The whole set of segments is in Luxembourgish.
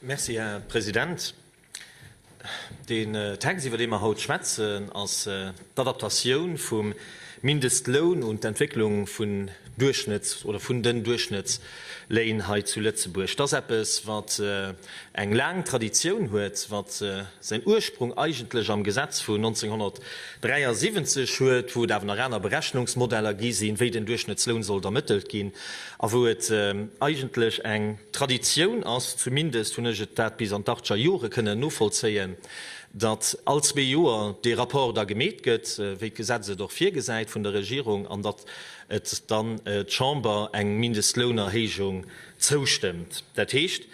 Merci, Här President. Deen Text, iwwer dee mer haut schwätzen, ass d'Adaptatioun vum Mindestloun un d'Entwécklung vun Duerchschnëtts oder vun den Duerchschnëttsléin hei zu Lëtzebuerg. Et ass eppes, wat eng laang Traditioun huet, wat säin Ursprung eigentlech am Gesetz vun 1973 huet, wou et awer nach aner Berechnungsmodeller gi sinn, wéi den Duerchschnëttsloun sollt ermëttelt ginn. A wou et eigentlech eng Traditioun ass, zumindest hunn ech et dat bis an d'Achtscher Jore kënnen novollzéien, datt all zwee Joer dee Rapport da gemeet gëtt, wéi d'Gesetz et och virgesäit vun der Regierung, an datt et dann d'Chamber eng Mindestlounerhéijung zoustëmmt. Dat heescht,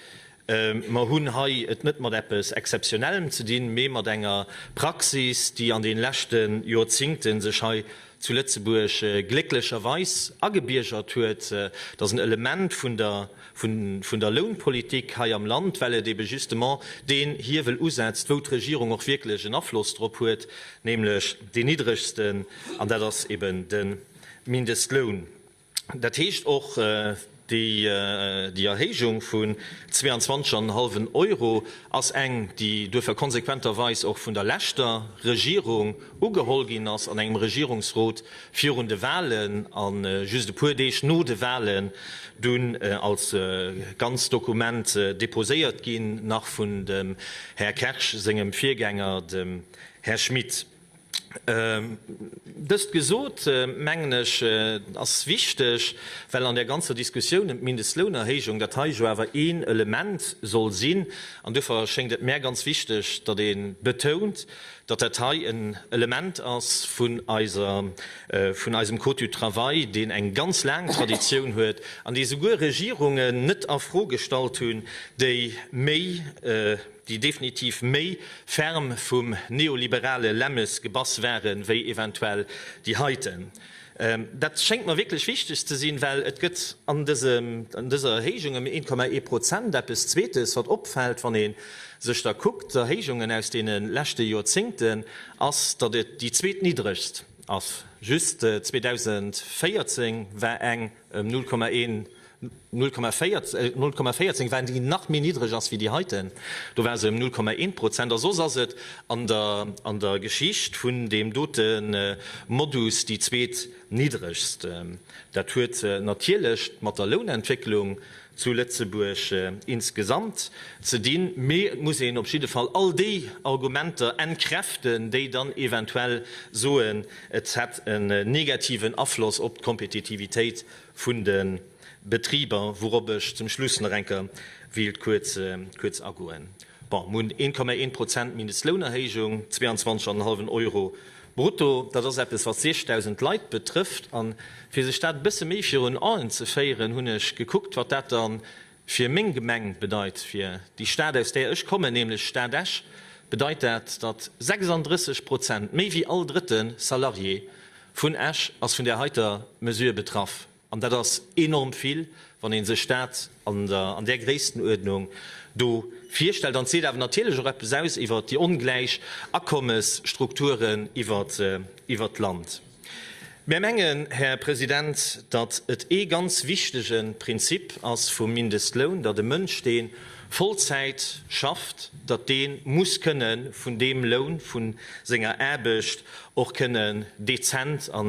Mer hunn hei et net mat eppes Exzeptionellem ze dinn, mee mat enger Praxis, déi an de leschte Jorzingte sech hei zu Lëtzebuerg glécklecherweis agebiergert huet. Dat ass en Element vun der Lounpolitik hei am Land, well et ebe justement deen Hiewel usetzt, wou d'Regierung och wierklech en Afloss drop huet, nämlech deen niddregsten, an dat ass eben de Mindestloun. Dat heescht och déi Erhéijung vun 22 an en hallwen Euro ass eng, déi duerfir konsequenterweis och vun der leschter Regierung ugeholl ginn ass an engem Regierungsrot virun de Wahlen a just e puer Deeg no de Wahlen dunn als ganz Dokument deposéiert ginn, nach vun dem Här Kersch sengem Virgänger, dem Här Schmit. Dëst gesot, mengen ech, et ass wichteg, well an där ganzer Diskussioun ëm d'Mindestlounerhéijung dat hei jo awer een Element soll sinn, an duerfir schéngt et mär ganz wichteg, datt ee betount, datt dat hei en Element ass vun eisem Code du travail, deen eng ganz laang Traditioun huet an dee souguer Regierungen net a Fro gestallt hunn, déi méi, déi definitiv méi ferm vum neoliberale Lämmes gebass waren, wéi eventuell déi heiten. Dat schéngt mer wierklech wichteg ze sinn, well et gëtt an dësem, an dëser Erhéijung ëm 1,1 Prozent eppes Zweetes, wat opfält, wann ee sech da kuckt, d'Erhéijungen aus deene leschte Joerzéngten, ass, datt et déi zweetniddregst ass. Just 2014 war eng. Ëm 0,14 waren, déi nach méi niddreg ass wéi déi heiten, do war se ëm 0,1 Prozent. A soss ass et an der Geschicht vun deem dote Modus déi zweet niddregst. Dat huet natierlech mat der Lounentwécklung zu Lëtzebuerg insgesamt ze dinn, mee et muss een op jidde Fall all déi Argumenter entkräften, déi dann eventuell soen, et hätt en negativen Afloss op d'Kompetitivitéit vun de Betriber, wourop ech zum Schluss nach eng Kéier wéilt kuerz agoen. Bon, mir hunn 1,1 Prozent Mindestlounerhéijung, 22,5 Euro Brutto, dat ass eppes wat 6000 Leit betrëfft. A fir sech dat e bësse méi virun Aen ze féieren, hunn ech gekuckt, wat dat da fir meng Gemeng bedeit, fir déi Stad aus där ech kommen, nämlech d'Stad Esch, bedeit dat, datt 36 Prozent, méi wéi all drëtte Salarié vun Esch ass vun där heiter Mesure betraff. An dat ass enorm vill, wann ee sech dat an där Gréisstenuerdnung do virstellt. An et seet awer natierlech och eppes aus iwwer déi ongläich Akommesstrukturen iwwer d'Land. Mär mengen, Här President, datt et ee ganz wichtege Prinzip ass vum Mindestloun, datt e Mënsch, dee Vollzäit schafft, datt dee muss kënne vun deem Loun, vu senger Aarbecht och kënne dezent a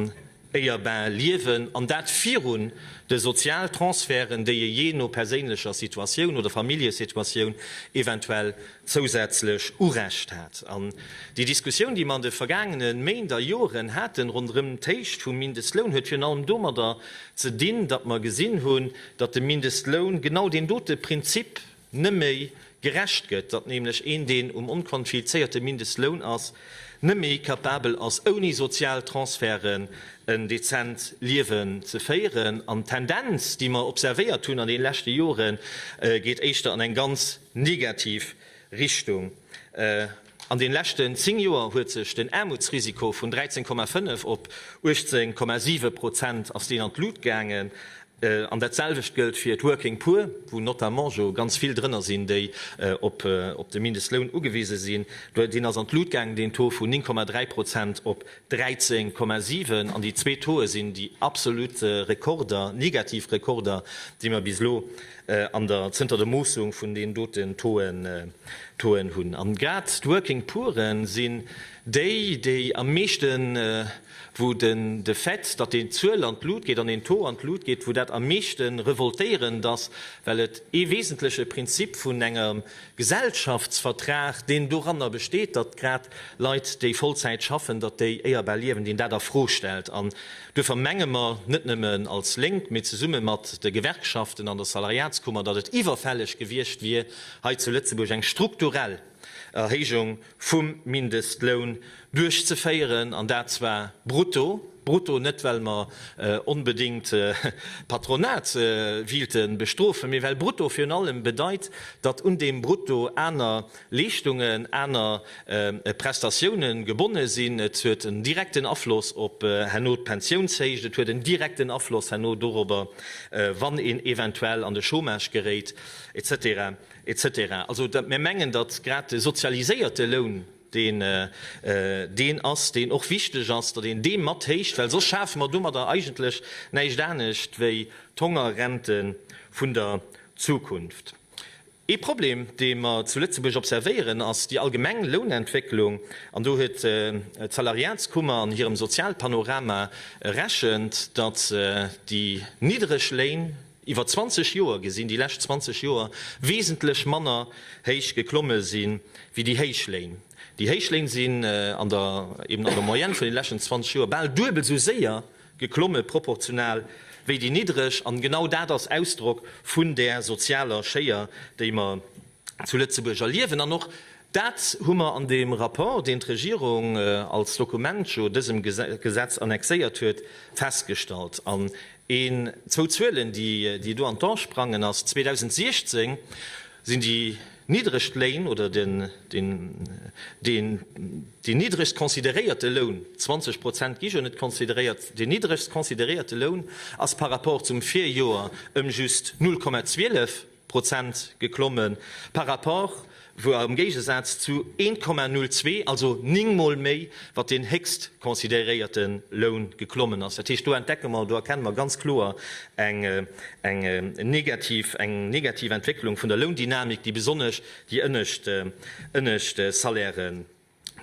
Urbain liewen, an dat virun de Sozialtransferten, déi ee jee no perséinlecher Situatioun oder Familljesituatioun eventuell zousätzlech Urecht hat. An déi Diskussioun, déi mer an de vergaangene Méint a Joren haten ronderëm d'Héicht vum Mindestloun, huet virun allem domadder ze dinn, datt mer gesinn hunn, datt de Mindestloun genau deen dote Prinzip, net méi gerecht gëtt, datt nämlech een, deen um onquanfizéierte Mindestloun ass, net méi capabel ass, ouni sozial Transferten en dezent Liewen ze féieren. An d'Tendenz, déi mer observéiert hunn an deene leschte Joren, geet éischter an eng ganz negativ Richtung. An den leschten 10 Joer huet sech den Aarmutsrisiko vun 13,5 op 18,7 Prozent ass deen an d'Lut gaangen. An dat selwecht gëllt fir d'Working Poor, wou notamment jo ganz vill drënner sinn, déi op de Mindestloun ugewise sinn. Deen ass an d'Lut gaangen, deen Taux vun 9,3 Prozent op 13,7. An déi zwee Tauxe sinn déi absolut Rekorder, negativ Rekorder, déi mer bis elo an der zënter der Moossung vun den doten Touen hunn. An grad d'Working Pooren sinn déi, déi am meeschten, wou de Fait, datt déi Zuel an d'Lut geet an den Taux an d'Lut geet, wou dat am meeschten revoltéierend ass, well et ee wesentleche Prinzip vun enger Gesellschaftsvertrag, deen doranner besteet, datt grad Leit, déi Vollzäit schaffen, datt déi éierbar liewen, deen dat a Fro stellt. An duerfir menge mer, net nëmmen als Lénk, mee zesumme mat de Gewerkschaften an der Salariatskummer, datt et iwwerfälleg gewiescht wier, hei zu Lëtzebuerg eng strukturell Erhéijung vum Mindestloun duerchzeféieren, an dat zwar brutto, brutto, net well mer onbedéngt d'Patronat wiilte bestrofen, mee well brutto virun allem bedeit, datt un deem Brutto aner Leeschtungen, aner Prestatioune gebonne sinn. Et huet en direkten Afloss op herno d'Pensiounshéicht, et huet en direkten Afloss herno dorobber, wann een eventuell an de Chômage geréit, et cetera. Etc. Also, datt mir mengen, datt grad de sozialiséierte Loun deen deen ass, deen och wichteg ass, datt een dee mat héicht, well soss schafe mer domadder eigentlech näischt anescht wéi d'Hongerrente vun der Zukunft. Ee Problem, dee mer zu Lëtzebuerg observéieren, ass déi allgemeng Lounentwécklung. An do huet d'Salariatskummer an hirem Sozialpanorama erechent, datt déi niddereg Léin, Iwwer 20 Joer gesinn, déi lescht 20 Joer wesentlech manner héich geklomme sinn, wéi déi héich Léin. Déi héich Léin sinn an der, eben an der Moyenne vun den leschten 20 Joer bal duebel esou séier geklomme proportional wéi déi niddreg. An genau dat ass Ausdrock vun där sozialer Schéier, déi mer zu Lëtzebuerg erliewen. An och dat hu mer an deem Rapport, deen d'Regierung als Dokument jo dësem Gesetz annexéiert huet, festgestallt. An een, zwou Zuelen, déi do an d'An sprangen ass, 2016 sinn déi niddregst Léin oder deen niddregst consideréierte Loun, 20 Prozent gi jo net consideréiert, deen niddregst consideréierte Loun ass par rapport zum Virjoer ëm just 0,12. Prozent geklomme par rapport, voire am Géigesaz zu 1,02, also ning Mol méi, wat deen héchst consideréierte Loun geklommen ass. Dat heescht, do entdecke mer, do erkenne mer ganz kloer eng negativ Entwécklung vun der Loundynamik, déi besonnesch déi ënnescht Salaire.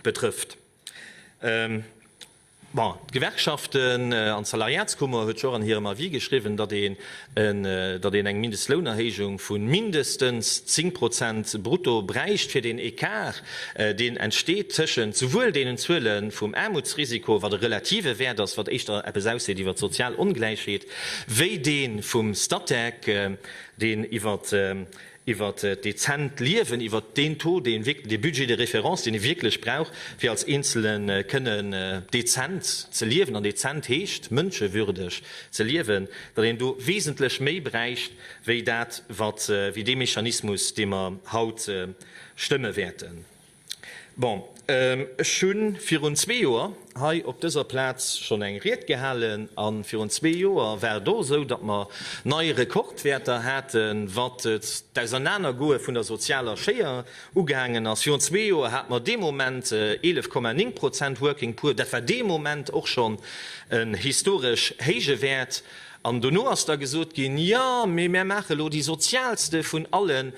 betrëfft. Bon, d'Gewerkschaften an d'Salariatskummer huet jo och an hirem Avis geschriwwen, datt een, datt een eng Mindestlounerhéijung vu mindestens 10 Prozent brutto bräicht, fir deen Ecart, deen entsteet tëschent souwuel deenen Zuele vum Aarmutsrisiko, wat e relative Wäert ass, wat éischter eppes ausseet iwwer d'sozial Ongläichheet, wéi dee vum Statec, deen iwwer iwwer d'dezent Liewen, iwwer deen Taux, dee Budget de référence, deen ee wierklech brauch, fir als Eenzele kënnen dezent ze liewen, an dezent heescht mënschewürdeg ze liewen, datt een do wesentlech méi bräicht wéi dat, wat, wéi dee Mechanismus, dee mer haut stëmme wäerten. Bon, ech hu virun zwee Joer hei op dëser Plaz schonn eng Ried gehalen a virun zwee Joer war et och esou, datt mer nei Rekordwäerter haten, wat d'Ausernanergoe vun der sozialer Schéier ugaangen ass. Virun zwee Joer hate mer dee Moment 11, 9 Prozent Working Poor. Dat war dee Moment och schonn en historesch héije Wäert. An dono ass da gesot ginn, Jo, mee mär maache elo déi sozialste vun alle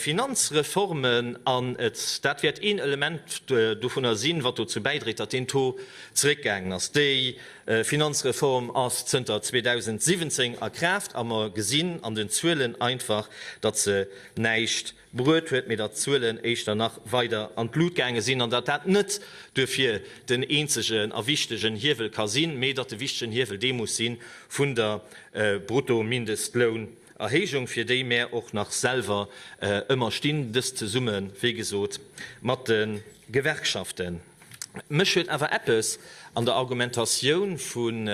Finanzreformen an dat wäert een Element dovunner sinn, wat dozou bäidréit, datt deen Taux zeréckgaangen ass. Déi Finanzreform ass zënter 2017 a Kraaft a mer gesinn an den Zuelen einfach, datt se näischt bruet huet, mee datt d'Zuelen éischter nach weider an d'Lut gaange sinn an datt dat net duerfir den eenzegen a wichtegen Hiewel ka sinn, mee datt de wichtegen Hiewel dee muss si vun der Bruttomindestlounerhéijung, fir déi mär och nach selwer ëmmer stinn, dëst zesumme wéi gesot mat de Gewerkschaften. Mech huet awer eppes an der Argumentatioun vun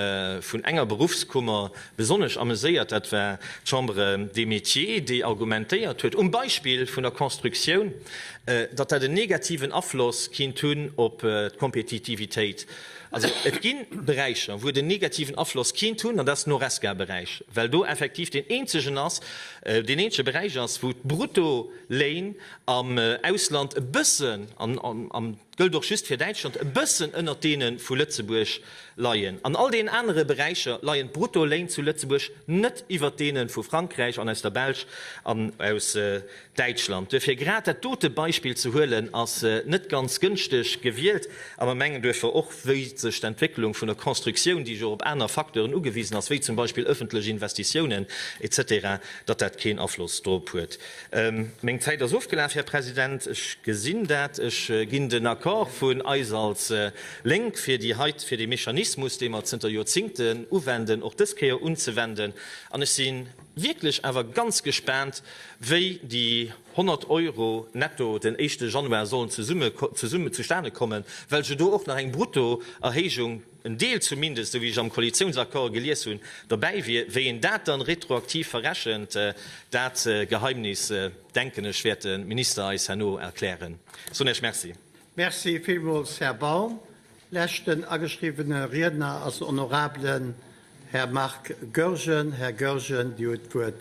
enger Beruffskummer besonnesch ameséiert, dat war d'Chambre des Métiers, déi argumentéiert huet, um Beispill vun der Constructioun, datt dat en negativen Afloss kinnt hunn op d'Kompetitivitéit. Also et gi Beräicher, wou et en negativen Afloss kinnt hunn, an dat ass den Horesca-Beräich, well do effektiv deen eenzegen ass, deen eenzege Beräich ass, wou d'Bruttoléin am Ausland e bëssen, an gëllt och just fir Däitschland, e bëssen ënnert deene vu Lëtzebuerg leien. An all deenen anere Beräicher leien d'Bruttoléin zu Lëtzebuerg net iwwert deene vu Frankräich an aus der Belsch an aus Däitschland. Duerfir, grad dat dote Beispill ze huelen, ass net ganz gënschteg gewielt. A mer mengen duerfir och, wéi sech d'Entwécklung vun der Constructioun, déi jo op aner Facteuren ugewisen ass, wéi zum Beispill ëffentlech Investitiounen, etc, datt dat keen Afloss drop huet. Meng Zäit ass ofgelaf, Här President. Ech gesinn dat. Ech ginn den Accord vun eis als Lénk, fir déi heite, fir dee Mechanismus, dee mer zënter Joerzingten uwenden, och dës Kéier unzewenden. An ech si wierklech awer ganz gespaant, wéi déi 100 Euro netto den éischte Januar sollen zesummen, zustane kommen, well se do och nach eng Bruttoerhéijung, en Deel zumindest, esou wéi ech am Koalitiounsaccord gelies hunn, dobäi wier. Wéi een dat dann retroaktiv verrechent, dat Geheimnis, denken ech, wäert de Minister eis herno erklären. Ech soen Iech Merci. Merci villmools, Här Baum. Leschten ageschriwwene Riedner ass den honorablen Här Marc Goergen. Här Goergen, Dir huet d'Wuert.